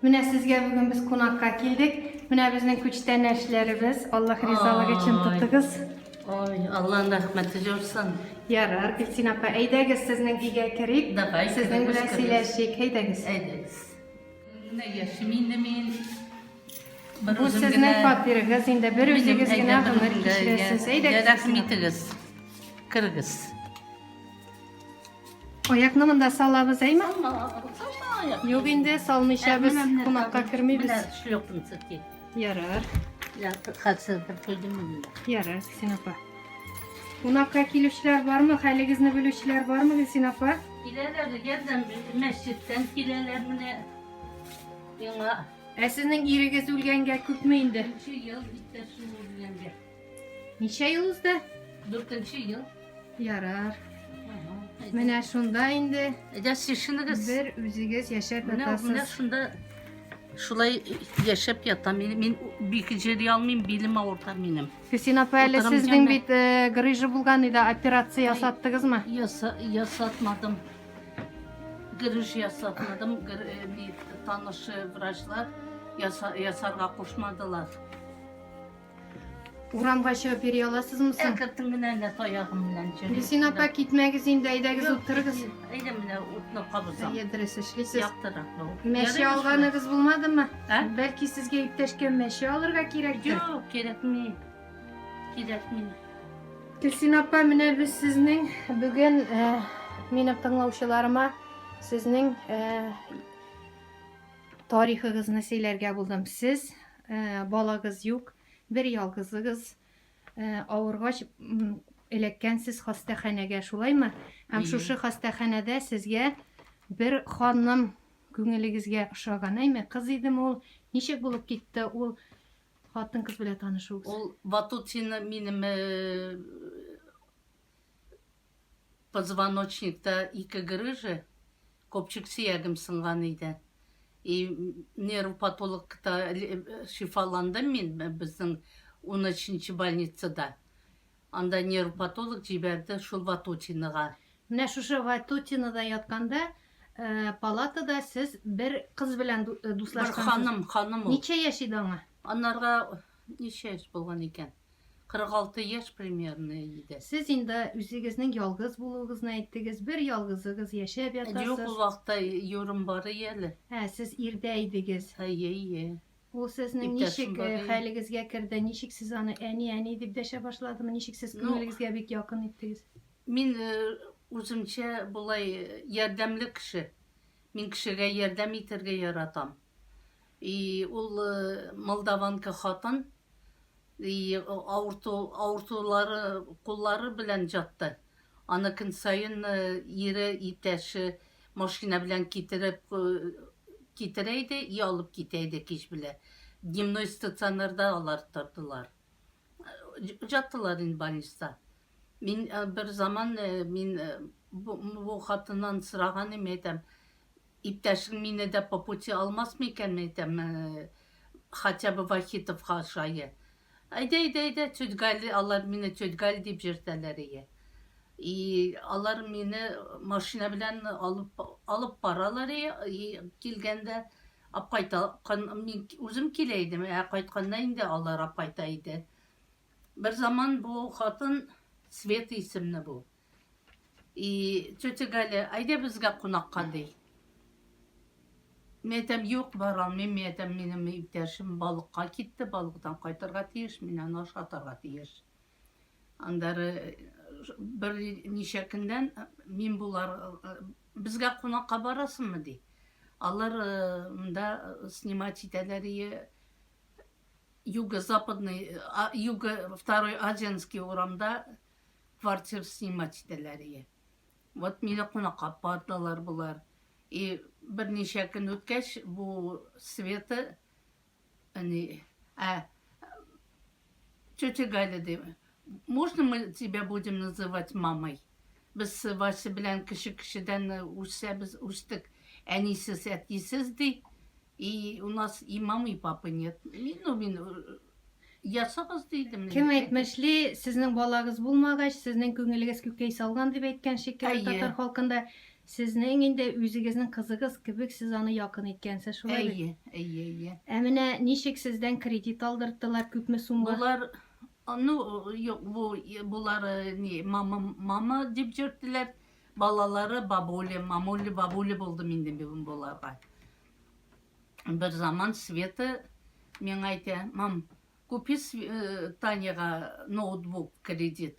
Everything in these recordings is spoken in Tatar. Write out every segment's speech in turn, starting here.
Менә сезгә бүген без кунакка килдек. Менә безнең күчтәнәчләребез. Аллаһ ризалыгы өчен тотыгыз. Ой, Аллаһның рәхмәте җорсын. Ярар, Гөлсин апа, әйдәгез сезнең өйгә керик. Давай, Сезнең белән керегез, керегез. сөйләшик. Әйдәгез. Әйдәгез. Менә яшим инде мин. Бер Бу үзем сезнең генә. фатирыгыз. Инде бер Минем үзегез генә әйдә, гомер берем генә. кичерәсез. Йә, Әйдәгез. Рәхмәт итегез. Керегез. Аякны монда салабыз, әйме? Салма, салма аяк. Юк инде, салмыйча без кунакка кермибез. Менә шлёпканы сөрти. Ярар. Я хәтсез бер куйдым монда. Ярар, Гөлсин апа. Кунакка килүчеләр бармы? Хәлегезне белүчеләр бармы, Гөлсин апа? Киләләр, ярдәм мәчеттән киләләр менә. Яңа. Ә сезнең ирегез үлгәнгә күпме инде? Өче ел иптәшем үлгәнгә. Ничә ел узды? Дүртенче ел. Ярар. Менә шунда инде. Әйдә, шешенегез. Бер үзегез яшәп ятасыз. Менә шунда шулай яшәп ятам. Мин, мин бик җири алмыйм, билем авырта минем. Хисин апа, әле сезнең бит э, грыжа булган иде, операция ясаттыгызмы? Яса, ясатмадым. Грыж ясатмадым. Гр, э, бит, танышы врачлар яса, ясарга кушмадылар. Урамга чыгып йөри аласызмы соң? Әкертем генә әллә таягым белән җөрим. Гөлсин апа, китмәгез инде, әйдәгез утырыгыз. Әйдә менә утны кабызам. Әйе, дөрес эшлисез. Яктырак бу. Мәче алганыгыз булмадымы? Ә? Бәлки сезгә иптәшкә мәче алырга кирәктер? Юк, кирәкми. Кирәкми. Гөлсин апа, менә без сезнең бүген э, минем тыңлаучыларыма сезнең э, тарихыгызны сөйләргә булдым. Сез Ә, балагыз юк, бер ялгызыгыз, ә, авыргач, эләккәнсез хастаханәгә, шулаймы? Һәм шушы хастаханәдә сезгә бер ханым күңелегезгә ошаган, әйме? Кыз идеме ул? Ничек булып китте ул хатын-кыз белән танышуыгыз? Ул Ватутин минем э, Позвоночникта ике грыжа, копчык сөягем сынган иде. И нерв патологта шифаландым мин безнең унөченче больницада. Анда нерв патолог җибәрде шул Ватутинага. Менә шушы Ватутинада ятканда палатада сез бер кыз белән дуслашкансыз. Бер ханым, ханым ул. Ничә яшь иде аңа? Анарга ничә яшь булган икән? 46 яшь примерно иде. Сез инде үзегезнең ялгыз булуыгызны әйттегез, бер ялгызыгыз яшәп ятасыз. Юк, ул вакытта юрым бар иде әле. Ә, сез ирдә идегез. Әйе, әйе. Ул сезнең ничек хәлегезгә керде, ничек сез аны әни, әни дип дәшә башладымы, ничек сез күңелегезгә бик якын иттегез? Мин үземчә болай ярдәмле кеше. Мин кешегә ярдәм итәргә яратам. И ул молдаванка хатын и авырту авыртулары куллары белән җатты аны көн саен ире итәше машина белән китереп китерә иде и алып китә иде кич белә дневной стационарда алар тордылар Җаттылар инде больниста. Мин э, бер заман э, мин э, бу, бу хатыннан сораган идем, әйтәм, иптәшең мине дә по пути алмас микән, әйтәм, э, хотя бы Вахитовка шае. Әйдә, әйдә, әйдә, тетгәл, алар мине тетгәл дип җиртәләр ие. И алар мине машина белән алып алып баралар ие, и, килгәндә Апкайта кан мин үзем килә идем, ә кайтканда инде алар апкайта иде. Бер заман бу хатын Света исемле бу. И тетя Галя, әйдә безгә кунакка ди. Мин әйтәм, юк, бара алмыйм, мин әйтәм, минем иптәшем балыкка китте, балыктан кайтырга тиеш, мин аны ашатырга тиеш. Аннары бер ничә көннән мин болар безгә кунакка барасыңмы ди. Алар монда снимать итәләр и юго-западный, юго второй Азианский урамда квартир снимать итәләр и. Вот мине кунакка бардылар болар. И берничә көн үткәч бу Света Они... А... Тетя Галя, ди, можно мы тебя будем называть мамой? Без Вася белән кеше-кешедән үсәбез, үстек. Әнисез, әтисез, ди. И у нас и мамы, и папы нет. Мин, ну, мин ясагыз дидем. Кем әйтмешли, сезнең балагыз булмагач, сезнең күңелегез күкәй салган дип әйткән шикелле татар халкында. Сезнең инде үзегезнең кызыгыз кебек сез аны якын иткәнсез шулай бит? Әйе, әйе, әйе. Ә менә ничек сездән кредит алдырттылар, күпме сумга? Болар, ну, юк, бу, болар ни, мама, мама дип йөрттеләр, балалары бабуля, мамуля, бабуля булдым инде мин боларга. Бер заман Света миңа әйтә, мам, купи Таняга ноутбук кредит.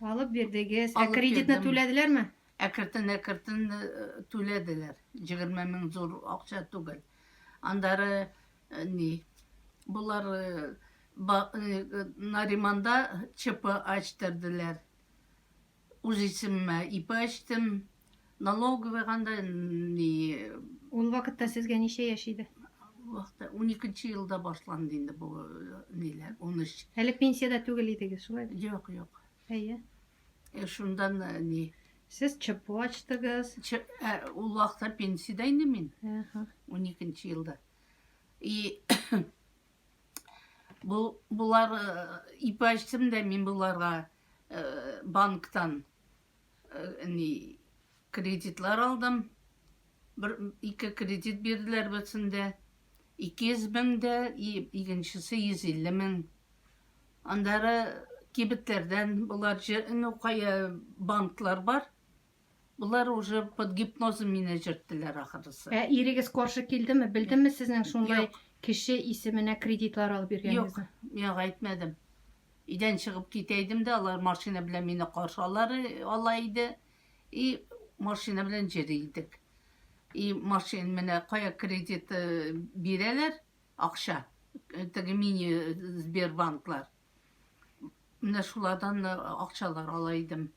Алып бирдегез. Ә Алып кредитны бирдем. түләделәрме? Әкертен әкертен э, түләделәр. 20 мең зур акча түгел. Андары э, ни? Булар э, ба- э, э, Нариманда ЧП ачтырдылар. Үз исемемә ИП ачтым. Налоговыйга да ни Ул вакытта сезгә ничә яшь иде? вакытта 12 елда башланды инде бу э, ниләр 13. Әле пенсиядә түгел идегез, шулай бит? Юк, юк. Әйе. Э, Шундан э, ни Сез ЧПО ачтыгыз. Чы- ә, ул вакытта пенсиядә инде мин. Әһә. 12 елда. И бу булар э, ипәчсем дә мин буларга э, банктан ни кредитлар алдым. Бер ике кредит бирделәр берсендә. 200 мең дә, икенчесе 150 мең. Андары кибетләрдән болар ну кая банклар бар. Болар уже под гипнозом мине җөрттеләр ахрысы. Ә ирегез каршы килдеме? Белдеме сезнең шундай кеше исеменә кредитлар алып йөргәнегезне? Юк, миңа әйтмәдем. Өйдән чыгып китә идем дә, алар машина белән мине каршы алар ала иде. И машина белән җөри идек. И машин менә кая кредит э, бирәләр, акча. Теге мини Сбербанклар. Менә шулардан э, акчалар ала идем.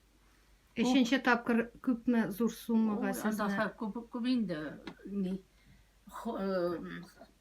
Өченче тапкыр күпме зур суммага сезне? Анда күп күп инде. Ни. Э,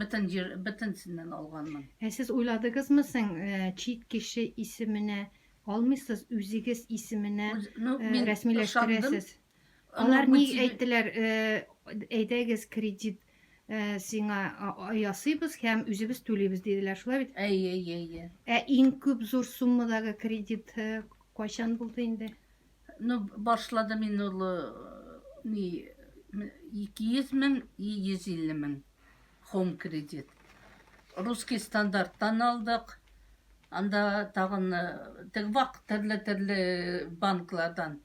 Бөтен җир, бөтенсеннән алганмын. Ә сез уйладыгызмы соң, чит кеше исеменә алмыйсыз, үзегез исеменә рәсмиләштерәсез? Алар ни әйттеләр, әйдәгез кредит сиңа ясыйбыз һәм үзебез түлибез диделәр, шулай бит? Әйе, әйе, әйе. Ә иң күп зур суммадагы кредит кайчан булды инде? Ну, башладым мин ул ни 200 мең и 150 мең хом кредит. Русский стандарттан алдык. Анда тагын э, тег вак төрле-төрле банклардан.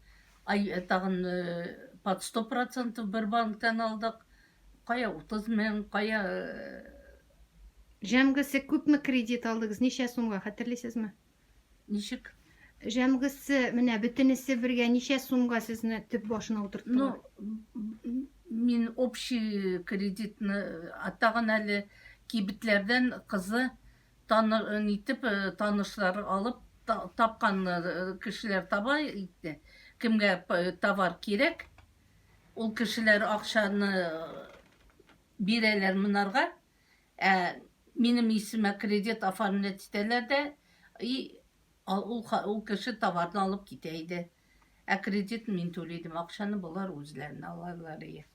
Ай э, тагын э, под 100% бер банктан алдык. Кая 30 мең, кая Җәмгесе күпме кредит алдыгыз? Ничә сумга хәтерлисезме? Ничек? Җәмгысе, менә бөтенесе бергә ничә сумга сезне төп башына утырттылар? Ну, мин общий кредитны тагын әле кибетләрдән кызы таны, нитеп э, танышлар алып та- тапкан э, кешеләр таба итте. Кемгә п- э, товар кирәк, ул кешеләр акчаны э, бирәләр монарга, Ә минем исемә кредит оформлять итәләр дә, и ул ул кеше товарны алып китә иде. Ә кредитны мин түли идем, акчаны болар үзләренә алалар ие.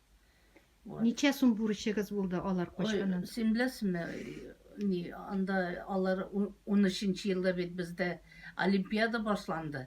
Вот. Ничә сум бурычыгыз булды алар качканнан? Ой, син беләсеңме, ни, анда алар 13 елда бит бездә олимпиада башланды.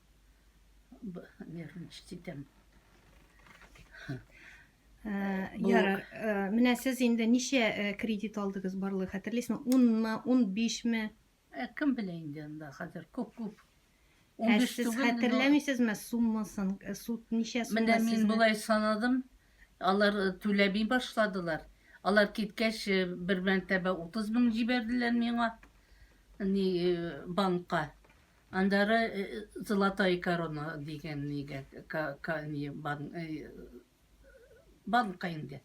Нервничать итәм. Ярар, менә сез инде ничә кредит алдыгыз барлыгы хәтерлисезме? 10-мы, 15-ме? Кем белә инде анда хәзер күп-күп. Ә сез хәтерләмисезме суммасын? Суд ничә сумма? Менә мин болай санадым. Алар түләби башладылар. Алар киткәч, бер мәртәбә 30 мең җибәрделәр миңа. Ни банкка. Аннары Золотая корона дигән нигә банкка инде.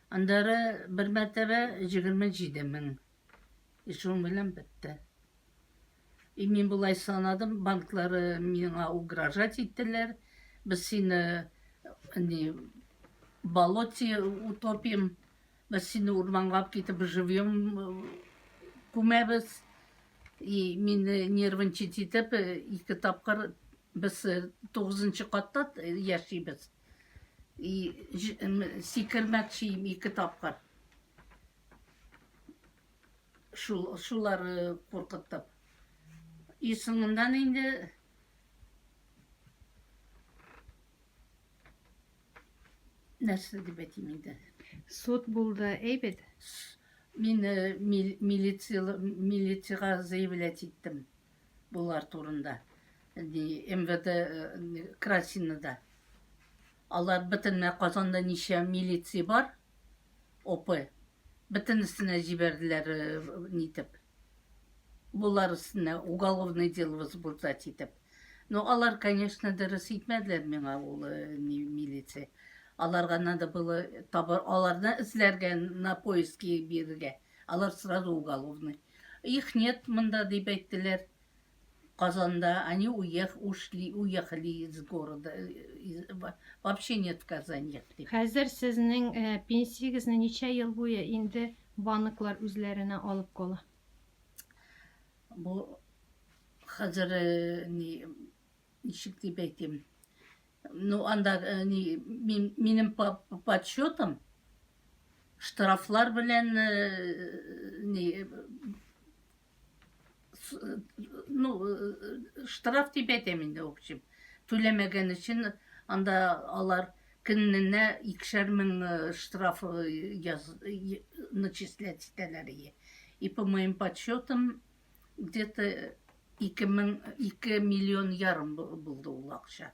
Аннары бер мәртәбә 27 мең. И шуның белән бетте. И мин болай санадым, банклары миңа угрожать иттеләр. Без сине не болоте утопим, Без сине урманлап китеп живьем күмәбез. И мине нервничать итеп ике тапкыр без тугызынчы катта яшибез. И сикермәкчием ике тапкыр. Шул шулар куркытып. И соңыннан инде нәрсә дип әйтим инде суд булды әйбәт мин милициягә заявлять иттем болар турында мвд красинада алар бөтенләй казанда ничә милиция бар опы бөтен өстенә җибәрделәр э, нитеп болар өстенә уголовный дело возбуждать итеп но ну, алар конечно дөрес итмәделәр миңа ул э, милиция аларга надо было табар аларны эзләргә на поиски бирергә алар сразу уголовный их нет монда дип әйттеләр Казанда они уех ушли уехали из города вообще нет в Казани. Хәзер сезнең пенсиягезне ничә ел буе инде банклар үзләренә алып кала? Бу хәзер ни ничек дип әйтим? Ну анда ни минем подсчетым штрафлар белән ни ну, э, штраф дип әйтәм инде, в общем, түләмәгән өчен анда алар көненә икешәр мең э, штраф яз, начислять итәләр. И по моим подсчетам, где-то 2, миллион ярым булды ул акча.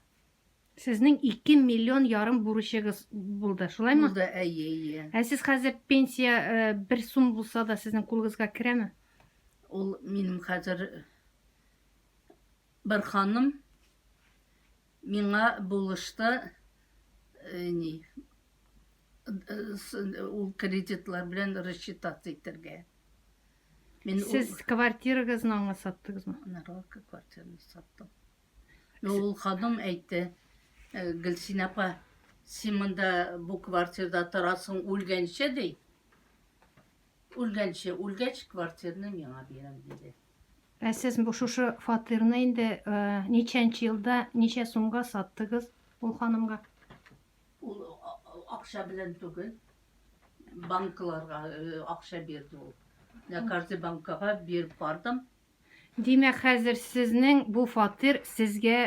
Сезнең ике миллион ярым бурычыгыз булды, шулаймы? Булды, әйе, әйе. Ә сез хәзер пенсия э, бер сум булса да сезнең кулыгызга керәме? Ул минем хәзер бер ханым миңа булышты э, ни э, ул кредитлар белән рассчитаться итәргә. Мин Сез квартирагызны аңа саттыгызмы? Нарвалка квартираны саттым. Ну, ул ханым әйтте, «Э, Гөлсин апа, син монда бу квартирда торасың үлгәнче, ди. Үлгәнче, үлгәч квартирны миңа бирәм, диде. Ә сез бу шушы фатирны инде э, ничәнче елда, ничә сумга саттыгыз ул ханымга? Ул а- а- акча белән түгел, банкларга э, акча бирде ул. Я каждый банкага биреп бардым, Димәк хәзер сезнең бу фатир сезгә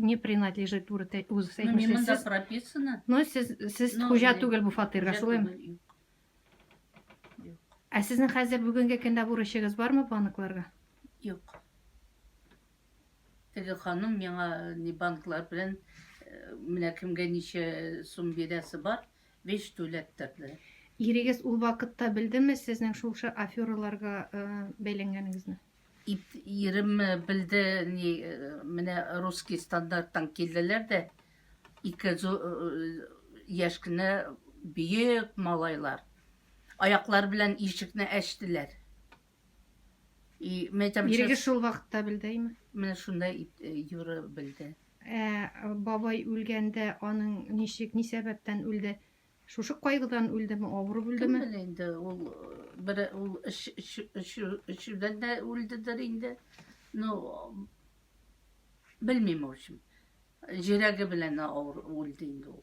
не принадлежит туры үзегез әйтмешсез. Ну, монда прописано. Ну, сез сез хуҗа түгел бу фатирга, шулаймы? Ә сезнең хәзер бүгенге көндә бурычыгыз бармы банкларга? Юк. Теге ханым миңа не банклар белән менә кемгә ничә сум бирәсе бар, биш түләп торды. Ирегез ул вакытта белдеме сезнең шул шы афераларга бәйләнгәнегезне? Ирем белде, ни, менә русский стандарттан килделәр дә, ике яшь кенә бөек малайлар. Аяклар белән ишекне әчтеләр. И мәйтәм, Иреге шул вакытта белдәйме? Менә шунда э, юры белде. Ә бабай үлгәндә аның ничек, ни сәбәптән үлде? Шушы кайгыдан үлдеме, авырып үлдеме? Кем инде ул э, бер ул өшүдән дә үлдедер инде. Ну белмим, в общем. Җирәге белән авыр үлде инде ул.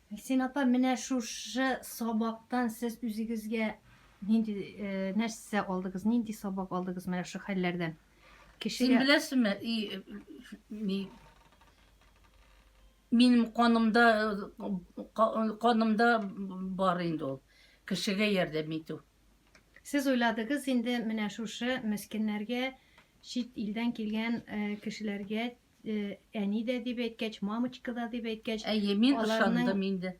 Гөлсин апа, менә шушы сабактан сез үзегезгә нинди нәрсә алдыгыз, нинди сабак алдыгыз менә шушы хәлләрдән? Кешегә... Син беләсеңме, и, минем канымда, канымда бар инде ул, кешегә ярдәм итү. Сез уйладыгыз инде менә шушы мескеннәргә, чит илдән килгән кешеләргә әни дә дип әйткәч, мамочка да дип әйткәч, Әйе, мин ышандым инде.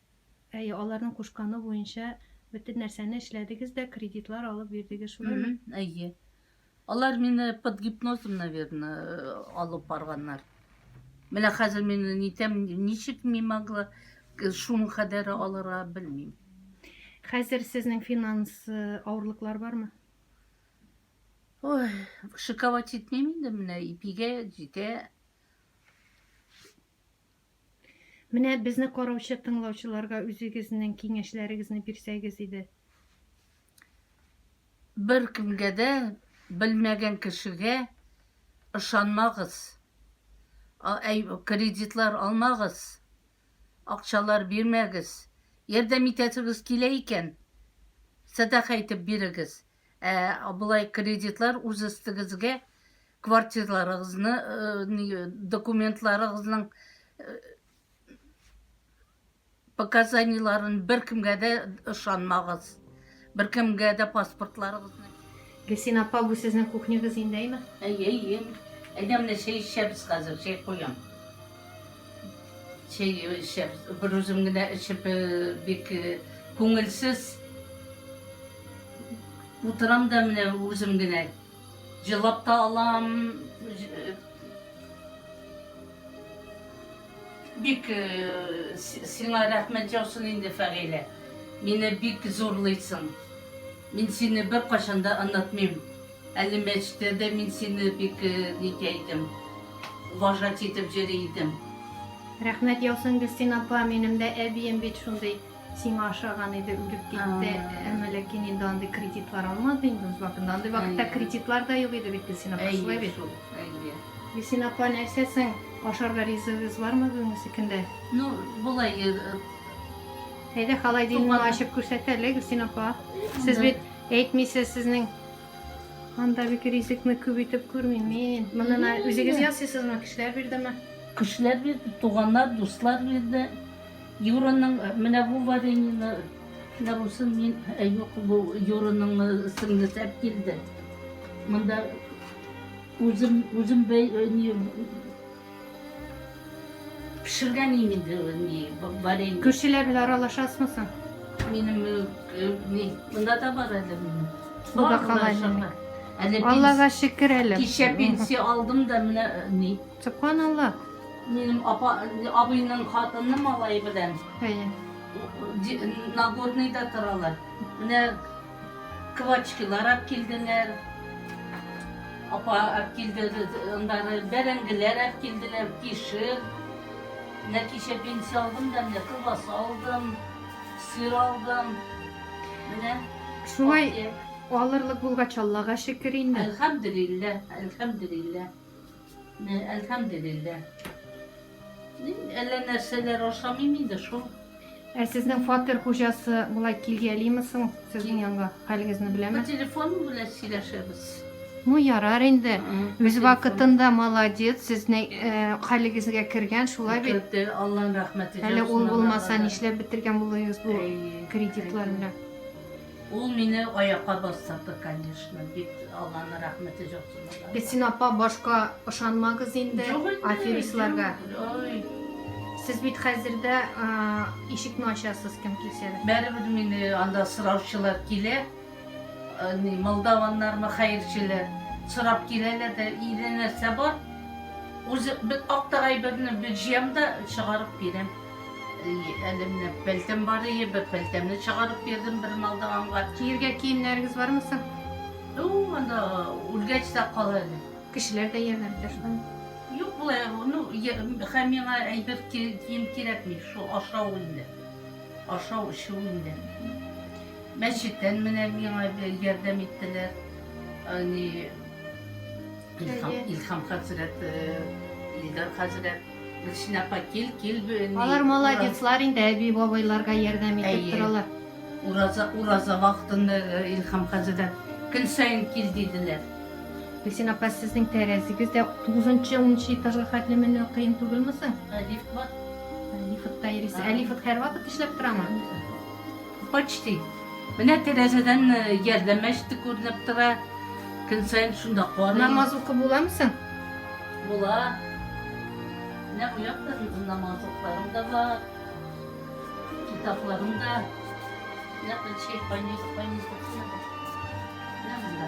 Әйе, аларның кушканы буенча бөтен нәрсәне эшләдегез дә, кредитлар алып бирдегез, шулаймы? Әйе. Алар мине под гипнозом, наверное, э, алып барганнар. Менә хәзер мин нитәм, ничек мин могла э, шуның кадәре алырга белмим. Хәзер сезнең финанс э, авырлыклар бармы? Ой, шиковать җитмим инде менә, ипигә җитә. Менә безне караучы тыңлаучыларга үзегезнең киңәшләрегезне бирсәгез иде. Бер кемгә дә, белмәгән кешегә ышанмагыз. Әй, кредитлар алмагыз. Акчалар бирмәгез. Ярдәм итәсегез килә икән, сәдака итеп бирегез. Ә болай кредитлар үз өстегезгә квартирларыгызны, э, документларыгызның э, показаниеларын беркемгә дә ышанмагыз. Беркемгә дә паспортларыгызны. Гөлсин апа, бу сезнең кухнягыз инде, әйме? Әйе, әйе. Әйдә менә чәй эчәбез хәзер, чәй куям. Чәй эчәбез. Берүзем генә эчеп, бик күңелсез утырам да менә үзем генә. Җылап та алам. Бик сиңа рәхмәт яусын инде, Фәгыйлә. Мине бик зурлыйсың. Мин сине беркайчан да онытмыйм. Әле мәчеттә дә мин сине бик нитә идем, уважать итеп җөри идем. Рәхмәт яусын, Гөлсин апа, минем дә әбием бит шундый сиңа ошаган иде, үлеп китте, әмма ләкин инде андый кредитлар алмады инде үз вакытында, андый вакытта кредитлар да юк иде бит, Гөлсин апа, шулай бит? Гөлсин апа, нәрсә соң, ашарга ризыгыгыз бармы бүгенгесе көндә? Ну, болай Әйдә, халайдинны ачып күрсәтәле, Гөлсин апа. Сез бит әйтмисез, сезнең Анда бик ризыкны күп итеп күрмим мин. Моннан ә- үзегез ясыйсызмы? Кешеләр бирдеме? Кешеләр бирде, туганнар, дуслар бирде. Юраның э, менә бу вареньены, менә бусын мин, э, юк, бу Юраның э, сеңлесе алып килде. Монда үзем, үзем бәй, э, не, Пешергәнем инде ул ни, варенье. Күршеләр белән аралашасызмы соң? Минем ни, монда да бар әле минем. Бу да калай минем. Әле Аллага шөкер әле. Кичә пенсия алдым да менә ни. Субханалла. Минем апа, абыйның хатыны малай белән. Әйе. Нагорныйда торалар. Менә Квачкилар ап килделәр. Апа ап килде, андары бәрәңгеләр ап килделәр, кишер. Менә кичә пенсия алдым да, менә колбаса алдым, сыр алдым. Менә. Шулай алырлык булгач, Аллага шөкер инде. Әлхәмдүлилләһ, әлхәмдүлилләһ. Менә әлхәмделилла. Әллә нәрсәләр ашамыйм инде шул. Ә сезнең фатир хуҗасы болай килгәлиме соң сезнең янга? Хәлегезне беләме? Бу телефон белән сөйләшәбез. Ну ярар инде. Үз вакытында молодец, сезнең э, хәлегезгә кергән шулай бит. Көтте, Алланың рәхмәте. Әле ул булмаса нишләп бетергән булыгыз бу кредитлар белән? Ул мине аякка бастырды, конечно, бик Алланы рәхмәте җаусын аларга. Гөлсин апа, башка ышанмагыз инде Юк инде, аферистларга. юк, Ой, Сез бит хәзер дә а, ишекне ачасыз кем килсә дә. бәребез мине анда сораучылар килә. Э, ни, Молдаваннармы, хәерчеләр. Сорап киләләр дә, иде нәрсә бар. Үзе бер актык әйберне бер җыям да чыгарып бирәм. Әлемне пелтем бар ие, бер пелтемне чыгарып бирдем бер малдаганга. Киергә киемнәрегез бармы соң? Ну, анда үлгәч тә кала әле. Кешеләр дә ярдәм итә шуннан. Юк, болай, ну, хәм миңа әйбер кием кирәкми, шул ашау инде. Ашау, эчү инде. Мәчеттән менә миңа ярдәм иттеләр. Ани Илхам, Илхам хәзрәт, Лидар хәзрәт. Гөлсин апа, кил, кил бе, ни, Алар молодецлар инде, әби-бабайларга ярдәм итеп Әйе. торалар. Ураза, ураза вакытында э, Илһам хәзрәт көн саен кил диделәр. Гөлсин апа, сезнең тәрәзегез дә тугызынчы, унынчы этажга хәтле менү кыен түгелме соң? Ә лифт бар? Лифтта йөрисез. Ә лифт һәрвакыт эшләп торамы? Почти. Менә тәрәзәдән Ярдәм мәчете күренеп тора. Көн саен шунда карыйм. Намаз укып буламы соң? Була. Менә бу якта безнең намазлыкларым да бар. Китапларым да. Менә Почти больница, больница куелган. Менә монда.